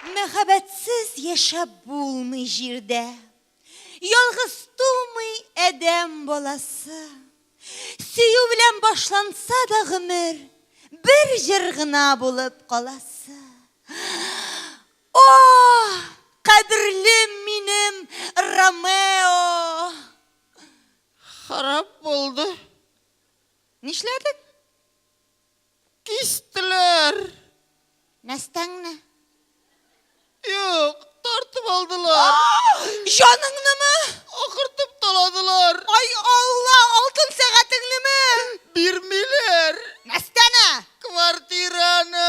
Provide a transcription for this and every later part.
Мәхәббәтсез яшәп булмый җирдә, Ялгыз тумый адәм баласы. Сөю белән башланса да гомер, Бер җыр гына булып каласы. О, кадерлем минем Ромео! Харап булды. Нишләдек? Кистеләр. Нәстәңне? Юк, тартып алдылар. Җаныңнымы? Акыртып таладылар. Ай Алла, алтын сәгатеңнеме? Бирмиләр. Нәстәне? Квартираны.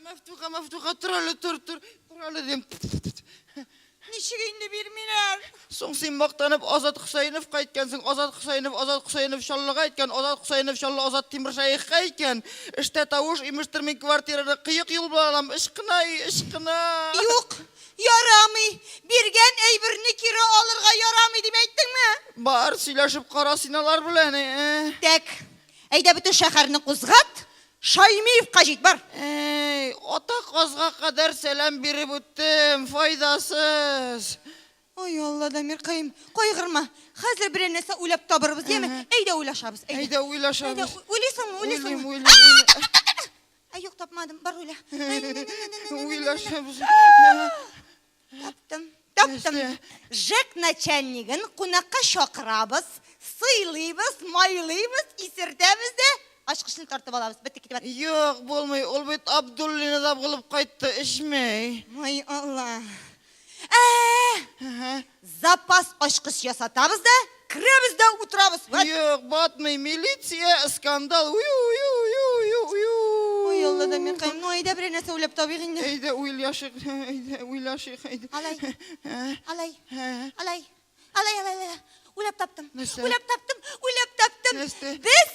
Мәфтуха, Мәфтуха, тор әле, тор, тор, тор әле, дим. Ничек инде бирмиләр? Соң син мактанып Азат Хөсәеновка әйткәнсең, Азат Хөсәенов, Азат Хөсәенов Чаллыга әйткән, Азат Хөсәенов Чаллы Азат Тимершәехка әйткән. Эштә тавыш, имештер мин квартираны кыек юл белән алам, ычкына, и, ычкына. Юк, ярамый, биргән әйберне кире алырга ярамый дип әйттеңме? Бар, сөйләшеп кара син алар белән, э-э. Тәк, әйдә бөтен шәхәрне кузгат, Шаймиевка җит, бар! Әй, атаказга кадәр сәлам биреп үттем, файдасыз. Ай Алла, Дамиркаем, кайгырма. Хәзер берәр нәрсә уйлап табырбыз, яме? Әйдә уйлашабыз, әйдә. Әйдә уйлашабыз. Әйдә, уйлыйсыңмы, уйлыйсыңмы? Уйлыйм, уйлыйм, уйлыйм. Ә юк, тапмадым, бар уйла. Уйлашабыз. Таптым, таптым. ЖЭК начальнигын кунакка чакырабыз, сыйлыйбыз, майлыйбыз, исертәбез дә ачкычны тартып алабыз. Бетте, китеп барды. Юк, булмый, ул бит Абдуллина да булып кайтты, эчмәй. Ай, Алла. Ә-ә-ә! Запас ачкыч ясатабыз да, Керәбез дә утырабыз. Вәт! Юк, батмый, милиция, скандал. Уй, уй, уй, уй, уй, уй. Ой, Алла да миркаем, ну әйдә берәр нәрсә уйлап табыйк инде. Әйдә уйлашыйк, әйдә уйлашыйк, әйдә. Алай. Ә? Алай. Ә? Алай. Алай, алай, алай. Уйлап таптым. Нәрсә? Уйлап таптым, уйлап таптым. Нәрсә? Без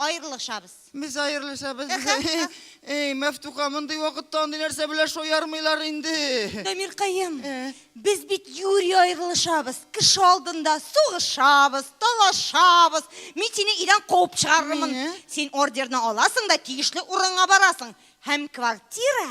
Аерылышабыз. Без аерылышабыз. Әй, Мәфтуха, мондый вакытта андый нәрсә белән шаярмыйлар инде. Дамиркаем, без бит юри аерылышабыз. Кеше алдында сугышабыз, талашабыз. Мин сине өйдән куып чыгарырмын. Син ордерны аласың да тиешле урынга барасың. Һәм квартира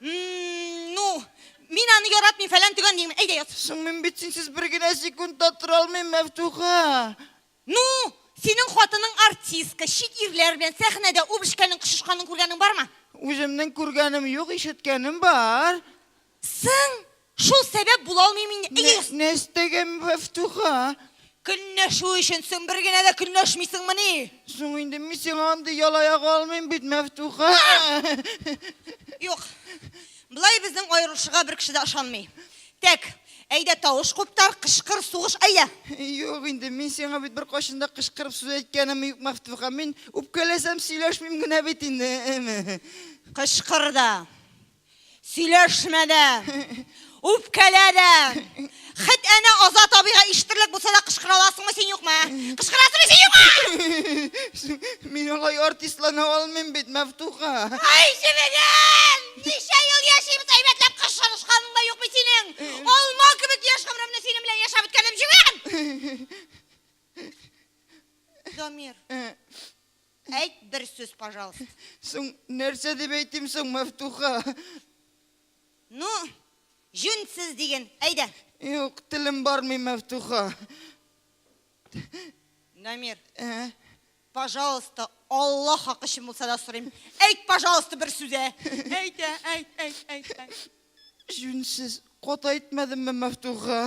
Ну, мин аны яратмыйм, фәлән төгән дим. Әйдә ят. Соң мин бит синсез бер генә секунд та тора алмыйм, Мәфтуха. Ну, синең хатының артистка, чит ирләр белән сәхнәдә үп эшкәнең, кышышканын күргәнең бармы? Үземнең күргәнем юк, ишеткәнем бар. Соң, Шул сәбәп була алмыйм инде. Әйе, яз. Нәстәгәм Мәфтуха. Көнләшү өчен соң бер генә дә көнләшмисеңмени? Соң инде мин сиңа андый ялаяк алмыйм бит, Мәфтуха. Юк. Болай безнең аерылышырга бер кеше дә ышанмый. Тәк, әйдә тавыш куптар, кычкыр, сугыш, әйдә! Юк инде, мин сиңа бит беркайчан да кычкырып сүз әйткәнем юк, Мәфтуха. Мин үпкәләсәм сөйләшмим генә бит инде. Кычкыр да. Сөйләшмә дә, үпкәлә дә. Хет әнә Азат абыйга ишетерлек булса да кычкыра аласыңмы син юкмы? Кычкырасыңмы син юкмы? Мин алай артистлана алмыйм бит, Мәфтуха. Ай, җебегем! Ничә ел яшибез, әйбәтләп кычкырышканың да юк бит синең. Алма кебек яшь гомремне синең белән яшәп үткәрдем, җебегем! Дамир. Әйт бер сүз, пожалуйста. Соң нәрсә дип әйтим соң, Мәфтуха? Ну, җүнсез диген, әйдә. Юк, телем бармый, Мәфтуха. Намир. Ә? Пожалуйста, Алла хакы өчен булса да сорыйм. Әйт, пожалуйста, бер сүз. Әйт, әйт, әйт, әйт, әйт. Җүнсез кат әйтмәдемме, Мәфтуха?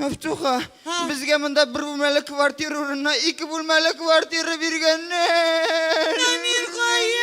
Мәфтуха, безгә монда бер бүлмәле квартира урынына ике бүлмәле квартира биргәннәр. Намир каем.